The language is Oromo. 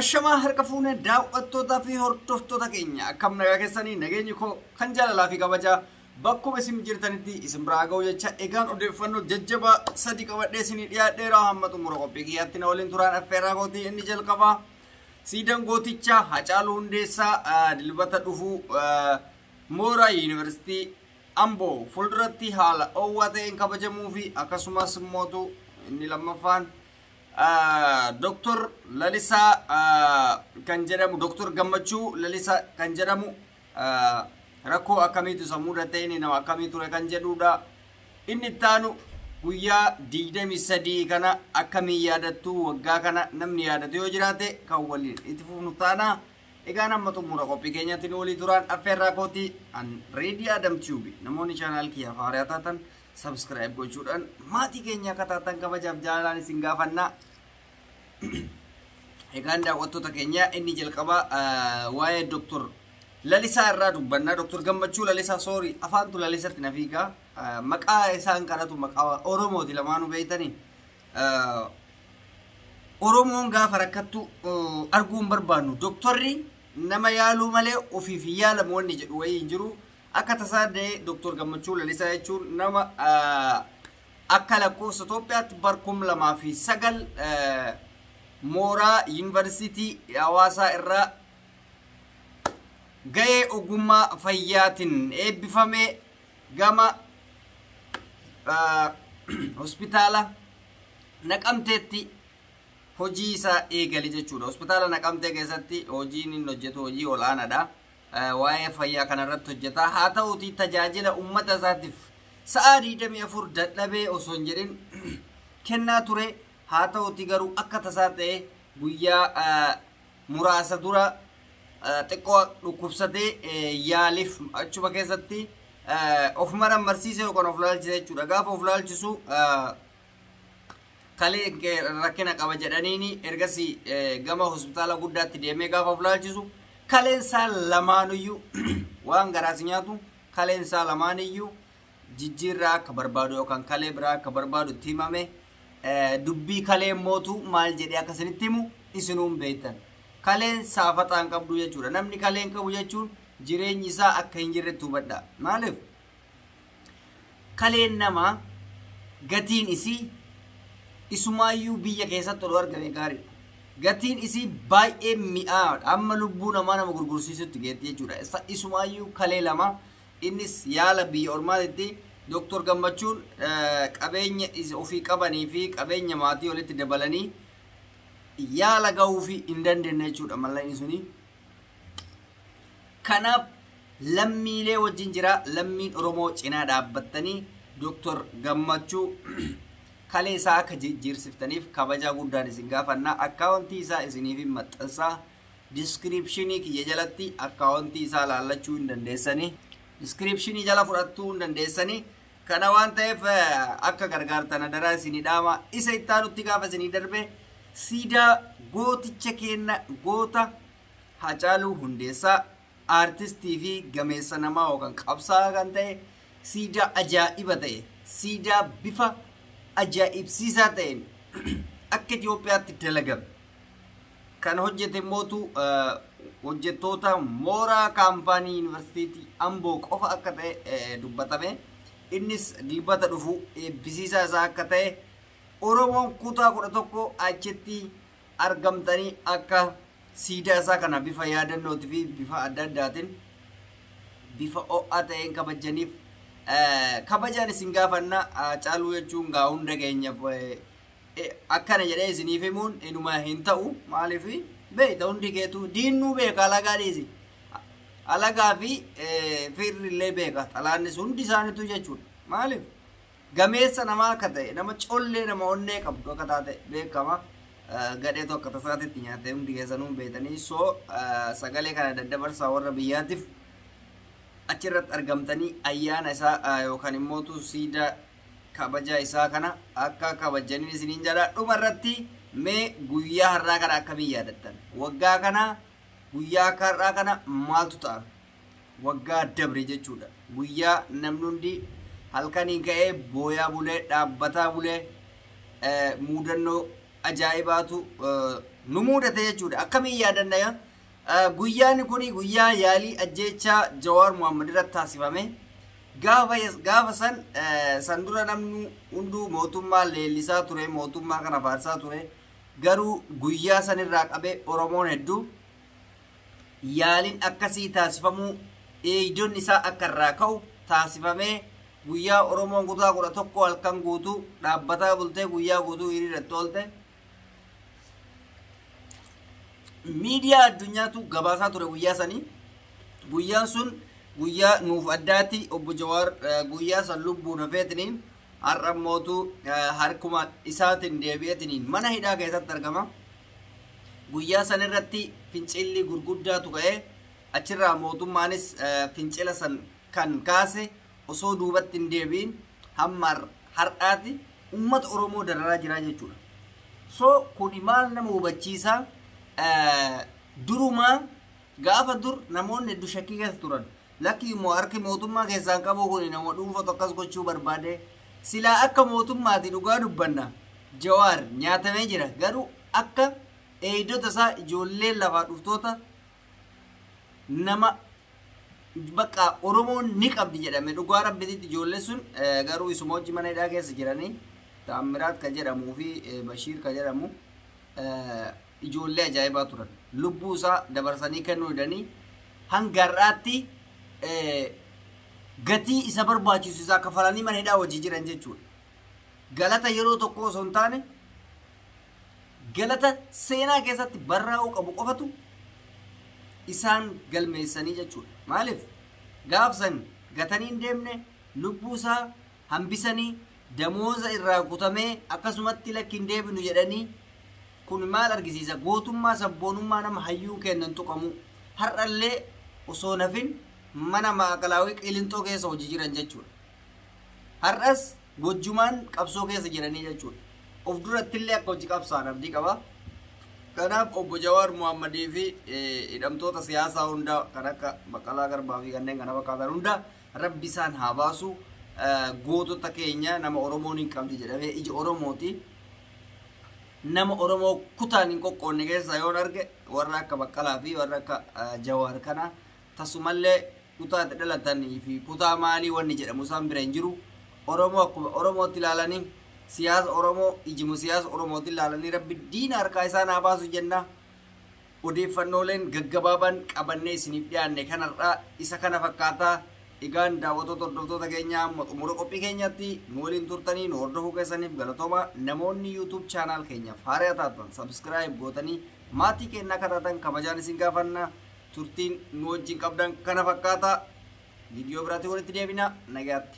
Ashamaa harka fuune daaw'attootaa fi hordoftoota keenya akkam nagaa keessanii nageenyi koo kan jaalalaa fi kabajaa bakkuma isin jirtanitti isin biraa ga'u jecha egaan odeeffannoo jajjabaa sadii qabadhee isinii dhiyaadheera hamma xumura qophii kiyyaatti na waliin turaan affeerraa kootii inni jalqabaa siidan gootichaa Hacaaluu Hundeessaa ah, dilbata dhufuu ah, mooraa yuunivarsiitii Amboo fuulduratti haala oowwaa ta'een kabajamuu fi akkasumas mootu inni lammaffaan Doktor Lalisaa kan jedhamu Doktor Gammachuu Lalisaa kan jedhamu rakkoo akkamiitu isa mudate inni nama akkamii ture kan jedhuudha. Inni itti aanu guyyaa 23 kana akkamii yaadattu waggaa kana namni yaadatu yoo jiraate kan waliin itti fufnu taana. Egaa nama xumura qophii keenyatti nu walii turaan affeerraa kooti an reedii Adam Tube namoonni chaanaal kiyyaaf haaraa taatan Subscribe gochuudhaan maatii keenya akka taatan kabajaaf jaalalaan isin gaafanna. Egaan daawwattoota keenya inni jalqabaa waa'ee Dr. Lalisaa irraa dubbanna. Dr. Gammachuu Lalisaa soorii afaantu Lalisatti na fiigaa. Maqaa isaan kanatu maqaa Oromooti lamaanuu beektanii. Oromoon gaafa rakkattu arguu hin barbaannu. Doktorri nama yaaluu malee ofiif hin yaalamu wanni jedhu wayii hin jiru. Akka tasaa da'ee Dr. Gammachuu Lalisaa jechuun nama akka lakkoofsa Itoophiyaatti bar 2009 mooraa Yuunivarsiitii Hawaasaa irraa ga'ee ogummaa fayyaatiin eebbifame gama hospitaala Naqamteetti hojii isaa eegale jechuudha. Hospitaala Naqamtee keessatti hojiin inni hojjetu hojii ol'aanaadha. waa'ee fayyaa kana irratti hojjetaa haa ta'uutii tajaajila ummata isaatiif sa'aa 24 dadhabee osoo hin jedhin kennaa ture haa ta'uutii garuu akka tasaa ta'e guyyaa ah, muraasa dura ah, xiqqoo dhukkubsatee eh, yaaliif achuma keessatti eh, of marammarsiisee yookaan of laalchise jechuudha gaafa of laalchisu ah, kalee rakkina qaba jedhaniini ergasi gama hospitaala guddaatti deemee gaafa fulaalchisu kaleen isaa lamaanuyyuu waan garaas nyaatu kaleen isaa lamaaniyyuu jijjiirraa akka barbaadu yookaan kalee biraa akka barbaadu itti himame dubbii kalee mootu maal jedhee akka isinitti himu isinuun beektan kaleen saafaxaan qabdu jechuudha namni kaleen qabu jechuun jireenyi isaa akka hin jirretti hubadha maaliif Kaleen namaa gatiin isii isumaayyuu biyya keessatti odoo argame gaariidha. Gatiin isii baay'ee mi'aadha. Amma lubbuu namaa nama gurgursiisutti geetti jechuudha. Isa- Isumaayyuu kalee lama innis yaala biyya ormaatitti Dooktor Gammachuun eh, qabeenya is- ofii qabanii fi qabeenya maatii walitti dabalanii yaala ga'uufi hin dandeenye jechuudha mallayni suni Kanaaf lammiilee wajjin jira, lammiin Oromoo cinaa dhaabbattanii Doktor Gammachuu kalee isaa akka jijjiirsiftaniif kabajaa guddaan isin gaafanna. Akkaawontii isaa isiniifin maxxansa. Diskiriipshinii kiyya jalatti akkaawontii isaa laallachuu hin dandeessanii. Diskiriipshinii jala fudhattuu hin dandeessanii. Kana waan ta'eef akka gargaartan adaraa isinii dhaama. Isa itti aanutti gaafa isinii darbe siidaa gooticha keenna goota Hacaaluu Hundeessaa aartistii fi gameessa namaa yookaan qabsaa'aa kan ta'e siidaa ajaa'iba ta'e siidaa bifa ajaa'ibsiisaa ta'een akka Itoophiyaatti dalagame Kan hojjete immootu hojjettoota mooraa kaampaanii yuunivarsiitii Amboo qofa akka ta'e dubbatame. Innis dilbata dhufu eebbisiisaa isaa akka ta'e Oromoon kutaa kudha tokko achitti argamtanii akka siidaa isaa kana bifa yaadannootii fi bifa adda addaatiin bifa ho'aa ta'een kabajaniif kabajaan isin gaafanna caaluu jechuun gaa hunda keenyaaf Akkana jedhee isiniif himuun inuma hin ta'u maaliif beekta hundi keetu diinnuu beeka alagaa dhiisi alagaa fi fiirri illee beeka xalaannis hundi isaaniitu jechuudha maaliif gameessa namaa akka ta'e nama collee nama onnee qabdu akka taate beekama gadheetu akka tasaatitti nyaatte hundi keessanuu beektanii soo sagalee kana daddabarsaa warra biyyaatiif achirratti argamtanii ayyaana isaa yookaan immoo siidaa kabaja isaa kana akka kabajjanin isiniin jedha dhuma irratti mee guyyaa har'aa kana akkamiin yaadattan waggaa kana guyyaa akka har'aa kana maaltu ta'a waggaa dabre jechuudha guyyaa namni hundi halkaniin ka'ee booyaa bulee dhaabbataa bulee eh, muudannoo ajaa'ibaatu eh, nu muudate jechuudha akkamiin yaadanna Guyyaan kun guyyaa yaalii ajjeechaa Jawaar Mohammed irratti taasifame. Gaafa gaafa san san dura namni hunduu mootummaa leellisaa ture, mootummaa kana faarsaa ture. Garuu guyyaa san irraa qabee Oromoon hedduu yaaliin akkasii taasifamuu eegdonni isaa akka irraa ka'u taasifamee guyyaa Oromoon kutaa kudha tokko halkan guutuu dhaabbataa bultee guyyaa guutuu hiriirratti oolte. miidiyaa addunyaatu gabaasaa ture guyyaa sanii guyyaan sun guyyaa nuuf addaati obbo Jawaar eh, guyyaa san lubbuun hafeetiniin har'a mootu eh, harkuma isaatiin deebi'eetiniin mana hidhaa keessatti argama. Guyyaa san irratti fincilli gurguddaatu ka'e achirraa mootummaanis eh, fincila san kan kaase osoo duubatti hin deebi'in hamma har'aati ummata Oromoo dararaa jiraa jechuudha. So kuni maal nama hubachiisaa durumaa gaafa dur namoonni heddu shakkii keessa turan lakki immoo harki mootummaa keessaan qabuu kuni nama dhuunfatu akkas gochuu barbaade silaa akka mootummaati dhugaa dubbanna jawaar nyaatamee jira garuu akka eeydota isaa ijoollee lafaa dhuftoota nama Baqqa oromoon ni qabdi jedhame dhugaa rabbititti ijoollee sun garuu isuma wajji mana hidhaa keessa jirani taammiraat ka jedhamu fi bashiir ka jedhamu ijoollee ajaa'ibaa turan lubbuu isaa dabarsanii kennuu didanii hanga har'aatti gatii isa barbaachisu isaa kafalanii mana hidhaa wajji jiran jechuudha galata yeroo tokko osoo hin taane galata seenaa keessatti barraa'uu qabu qofatu isaan galmeessanii jechuudha. Maaliif gaafsan gatanii hin deemne lubbuusaa hambisanii damooza irraa kutamee akkasumatti lakki hin deebinu jedhanii kun maal argisiisa gootummaa sabboonummaa nama hayyuun kennan tuqamu har'allee osoo nafin mana maakalaawii qilinxoo keessa hojii jiran jechuudha. Har'as wajjumaan qabsoo keessa jiranii jechuudha. Of durattillee akka wajji qabsaan abdii qaba. Kanaaf obbo Jawaar Muhammadii fi hidhamtoota siyaasaa hunda kan akka Baqqalaa Garbaa fi kanneen kana fakkaatan hunda rabbi isaan haa baasu. Gootota keenya nama Oromoon hin qabdi jedhamee ija Oromooti. Nama Oromoo kutaan hin qoqqoonne keessaa yoon arge warra akka Baqqalaa fi warra akka Jawaar kana tasumallee kutaa itti dhalatan fi kutaa maalii wanni jedhamu isaan bira hin jiru. Oromoo akkuma Oromootti laalanii, siyaasa Oromoo ijuma siyaasa Oromootiin laalanii Rabbi diina harkaa isaan haa baasu jenna. Odeeffannooleen gaggabaabaan qabannee isiniif dhiyaanne kan har'aa isa kana fakkaata. Egaan daawwatoota hordoftoota keenyaa amma xumura qophii keenyaatti nu waliin turtanii nu hordofuu keessaniif galatooma. Namoonni YouTube channel keenyaaf haaraa taatan subscribe gootanii maatii keenya akka taatan kabajaan isin gaafanna. Turtiin nu wajjin qabdan kana fakkaata. Viidiyoo biraatiin walitti deebina. Nagaatti.